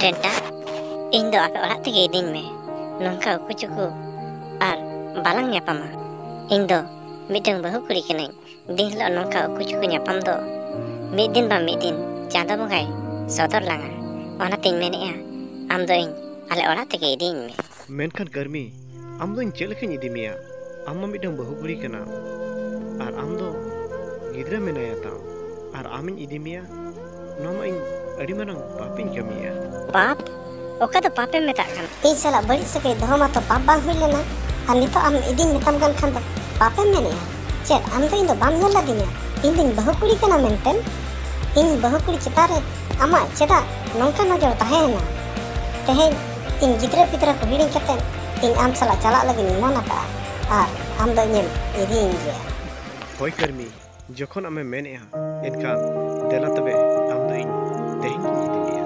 ᱨᱮᱴᱟ ᱤᱧ ᱫᱚ ᱟᱯᱮ ᱚᱲᱟᱜ ᱛᱮᱜᱮ ᱤᱫᱤᱧ ᱢᱮ ᱱᱚᱝᱠᱟ ᱩᱠᱩ ᱪᱩᱠᱩ ᱟᱨ ᱵᱟᱞᱟᱝ ᱧᱟᱯᱟᱢᱟ ᱤᱧ ᱫᱚ ᱢᱤᱫᱴᱟᱝ ᱵᱟᱹᱦᱩ ᱠᱩᱲᱤ ᱠᱟᱹᱱᱟᱹᱧ ᱫᱤᱱ ᱦᱤᱞᱳᱜ ᱱᱚᱝᱠᱟ ᱩᱠᱩ ᱪᱩᱠᱩ ᱧᱟᱯᱟᱢ ᱫᱚ ᱢᱤᱫ ᱫᱤᱱ ᱵᱟᱝ ᱢᱤᱫ ᱫᱤᱱ ᱪᱟᱸᱫᱚ ᱵᱚᱸᱜᱟᱭ ᱥᱚᱫᱚᱨ ᱞᱟᱝᱟ ᱚᱱᱟᱛᱤᱧ ᱢᱮᱱᱮᱫᱼᱟ ᱟᱢ ᱫᱚ ᱤᱧ ᱟᱞᱮ ᱚᱲᱟᱜ ᱛᱮᱜᱮ ᱤᱫᱤᱧ ᱢᱮ ᱢᱮᱱᱠᱷᱟᱱ ᱠᱟᱹᱨᱢᱤ ᱟᱢ ᱫᱚ ᱤᱧ ᱪᱮᱫ ᱞᱮᱠᱟᱧ ᱤᱫᱤ ᱢᱮᱭᱟ ᱟᱢ ᱢᱟ ᱢᱤᱫᱴᱟᱝ ᱵᱟᱹᱦᱩ ᱠᱩᱲᱤ ᱠᱟᱱᱟ ᱟᱨ ᱟᱢ ᱫᱚ ᱜᱤᱫᱽᱨᱟᱹ ᱢᱮᱱᱟᱭᱟ ᱛᱟᱢ ᱟᱨ ᱟᱢᱤᱧ ᱤᱫᱤ ᱢᱮᱭᱟ ᱱᱚᱣᱟ ᱢᱟ ᱤᱧ ᱟᱹᱰᱤ ᱢᱟᱨᱟᱝ ᱯᱟᱯᱤᱧ ᱠᱟᱹᱢᱤᱭᱟ ᱯᱟᱯ ᱚᱠᱟ ᱫᱚ ᱯᱟᱯᱮ ᱢᱮᱛᱟᱜ ᱠᱟᱱᱟ ᱤᱧ ᱥᱟᱞᱟᱜ ᱵᱟᱹᱲᱤᱡ ᱥᱟᱹᱜᱟᱹᱭ ᱫᱚᱦᱚ ᱢᱟᱛᱚ ᱯᱟᱯ ᱵᱟᱝ ᱦᱩᱭ ᱞᱮᱱᱟ ᱟᱨ ᱱᱤᱛᱚᱜ ᱟᱢ ᱤᱫᱤᱧ ᱢᱮᱛᱟᱢ ᱠᱟᱱ ᱠᱷᱟᱱ ᱫᱚ ᱯᱟᱯᱮᱢ ᱢᱮᱱᱮᱜᱼᱟ ᱪᱮᱫ ᱟᱢ ᱫᱚ ᱤᱧ ᱫᱚ ᱵᱟᱢ ᱧᱮᱞ ᱞᱮᱫᱤᱧᱟ ᱤᱧ ᱫᱚᱧ ᱵᱟᱹᱦᱩ ᱠᱩᱲᱤ ᱠᱟᱱᱟ ᱢᱮᱱᱛᱮ ᱤᱧ ᱵᱟᱹᱦᱩ ᱠᱩᱲᱤ ᱪᱮᱛᱟᱱ ᱨᱮ ᱟᱢᱟᱜ ᱪᱮᱫᱟᱜ ᱱᱚᱝᱠᱟ ᱱᱚᱡᱚᱨ ᱛᱟᱦᱮᱸᱭᱮᱱᱟ ᱛᱮᱦᱮᱧ ᱤᱧ ᱜᱤᱫᱽᱨᱟᱹ ᱯᱤᱫᱽᱨᱟᱹ ᱠᱚ ᱦᱤᱲᱤᱧ ᱠᱟᱛᱮ ᱤᱧ ᱟᱢ ᱥᱟᱞᱟᱜ ᱪᱟᱞᱟᱜ ᱞᱟᱹᱜᱤᱫ ᱤᱧ ᱢᱚᱱ ᱟᱠᱟᱫᱼᱟ ᱟᱨ ᱟᱢ ᱫᱚ ᱤᱧᱮᱢ ᱤᱫᱤᱭᱤᱧ ᱜᱮᱭᱟ ᱦᱳᱭ ᱠᱟᱹᱨᱢᱤ ᱡᱚᱠᱷᱚᱱ ᱟᱢᱮᱢ ᱢᱮᱱᱮᱫᱼᱟ ᱮᱱᱠᱷᱟᱱ ᱫᱮᱞᱟ ᱛᱚᱵᱮ ᱟᱢ ᱫᱚ ᱤᱧ ᱛᱮᱦᱮᱧ ᱜᱤᱧ ᱤᱫᱤ ᱢᱮᱭᱟ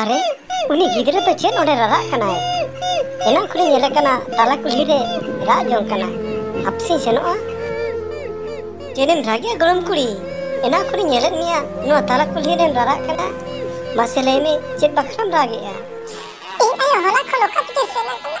ᱟᱨᱮ ᱩᱱᱤ ᱜᱤᱫᱽᱨᱟᱹ ᱫᱚ ᱪᱮᱫ ᱚᱸᱰᱮ ᱨᱟᱨᱟᱜ ᱠᱟᱱᱟᱭ ᱮᱱᱟᱝ ᱠᱷᱚᱱᱤᱧ ᱧᱮᱞᱮ ᱠᱟᱱᱟ ᱛᱟᱞᱟ ᱠᱩᱞᱦᱤ ᱨᱮ ᱨᱟᱜ ᱡᱚᱝ ᱠᱟᱱᱟᱭ ᱦᱟᱯᱥᱤᱧ ᱥᱮᱱᱚᱜᱼᱟ ᱪᱮᱫᱮᱢ ᱨᱟᱜᱮᱜᱼᱟ ᱜᱚᱲᱚᱢ ᱠᱩᱲᱤ ᱮᱱᱟᱝ ᱠᱷᱚᱱᱤᱧ ᱧᱮᱞᱮᱫ ᱢᱮᱭᱟ ᱱᱚᱣᱟ ᱛᱟᱞᱟ ᱠᱩᱞᱦᱤ ᱨᱮᱢ ᱨᱟᱨᱟᱜ ᱠᱟᱱᱟ ᱢᱟᱥᱮ ᱞᱟᱹᱭ ᱢᱮ ᱪᱮᱫ ᱵᱟᱠᱷᱨᱟᱢ ᱨᱟᱜᱮᱜᱼᱟ ᱤᱧ ᱟᱭᱳ ᱦᱚᱞᱟ ᱠᱷᱚᱱ ᱚᱠᱟ ᱛᱮᱜᱮ ᱥᱮᱱ ᱟᱠᱟᱱᱟ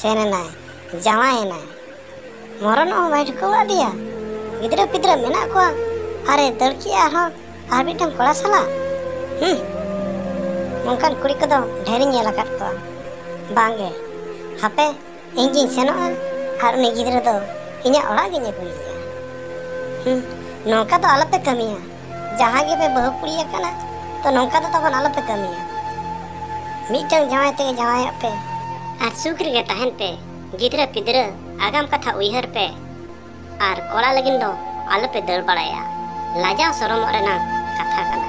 ᱥᱮᱱ ᱮᱱᱟᱭ ᱡᱟᱶᱟᱭ ᱮᱱᱟᱭ ᱢᱚᱨᱚᱱᱚᱜ ᱦᱚᱸ ᱵᱟᱭ ᱴᱷᱤᱠᱟᱹ ᱟᱫᱮᱭᱟ ᱜᱤᱫᱽᱨᱟᱹ ᱯᱤᱫᱽᱨᱟᱹ ᱢᱮᱱᱟᱜ ᱠᱚᱣᱟ ᱟᱨᱮ ᱫᱟᱹᱲ ᱠᱮᱜᱼᱟ ᱟᱨᱦᱚᱸ ᱟᱨ ᱢᱤᱫᱴᱟᱝ ᱠᱚᱲᱟ ᱥᱟᱞᱟᱜ ᱦᱩᱸ ᱱᱚᱝᱠᱟᱱ ᱠᱩᱲᱤ ᱠᱚᱫᱚ ᱰᱷᱮᱨᱤᱧ ᱧᱮᱞ ᱟᱠᱟᱫ ᱠᱚᱣᱟ ᱵᱟᱝᱜᱮ ᱦᱟᱯᱮ ᱤᱧ ᱜᱤᱧ ᱥᱮᱱᱚᱜᱼᱟ ᱟᱨ ᱩᱱᱤ ᱜᱤᱫᱽᱨᱟᱹ ᱫᱚ ᱤᱧᱟᱹᱜ ᱚᱲᱟᱜ ᱜᱤᱧ ᱟᱹᱜᱩᱭᱮᱭᱟ ᱦᱩᱸ ᱱᱚᱝᱠᱟ ᱫᱚ ᱟᱞᱚᱯᱮ ᱠᱟᱹᱢᱤᱭᱟ ᱡᱟᱦᱟᱸ ᱜᱮᱯᱮ ᱵᱟᱹᱦᱩ ᱠᱩᱲᱤ ᱟᱠᱟᱱᱟ ᱛᱚ ᱱᱚᱝᱠᱟ ᱫᱚ ᱛᱟᱵᱚᱱ ᱟᱞᱚᱯᱮ ᱠᱟᱹᱢᱤᱭᱟ ᱢᱤᱫᱴᱟᱝ ᱡᱟᱶᱟᱭ ᱛᱮᱜᱮ ᱡᱟᱶᱟᱭᱚᱜ ᱯᱮ ᱟᱨ ᱥᱩᱠ ᱨᱮᱜᱮ ᱛᱟᱦᱮᱱ ᱯᱮ ᱜᱤᱫᱽᱨᱟᱹ ᱯᱤᱫᱽᱨᱟᱹ ᱟᱜᱟᱢ ᱠᱟᱛᱷᱟ ᱩᱭᱦᱟᱹᱨ ᱯᱮ ᱟᱨ ᱠᱚᱲᱟ ᱞᱟᱹᱜᱤᱫ ᱫᱚ ᱟᱞᱚᱯᱮ ᱫᱟᱹᱲ ᱵᱟᱲᱟᱭᱟ ᱞᱟᱡᱟᱣ ᱥᱚᱨᱚᱢᱚᱜ ᱨᱮᱱᱟᱜ ᱠᱟᱛᱷᱟ ᱠᱟᱱᱟ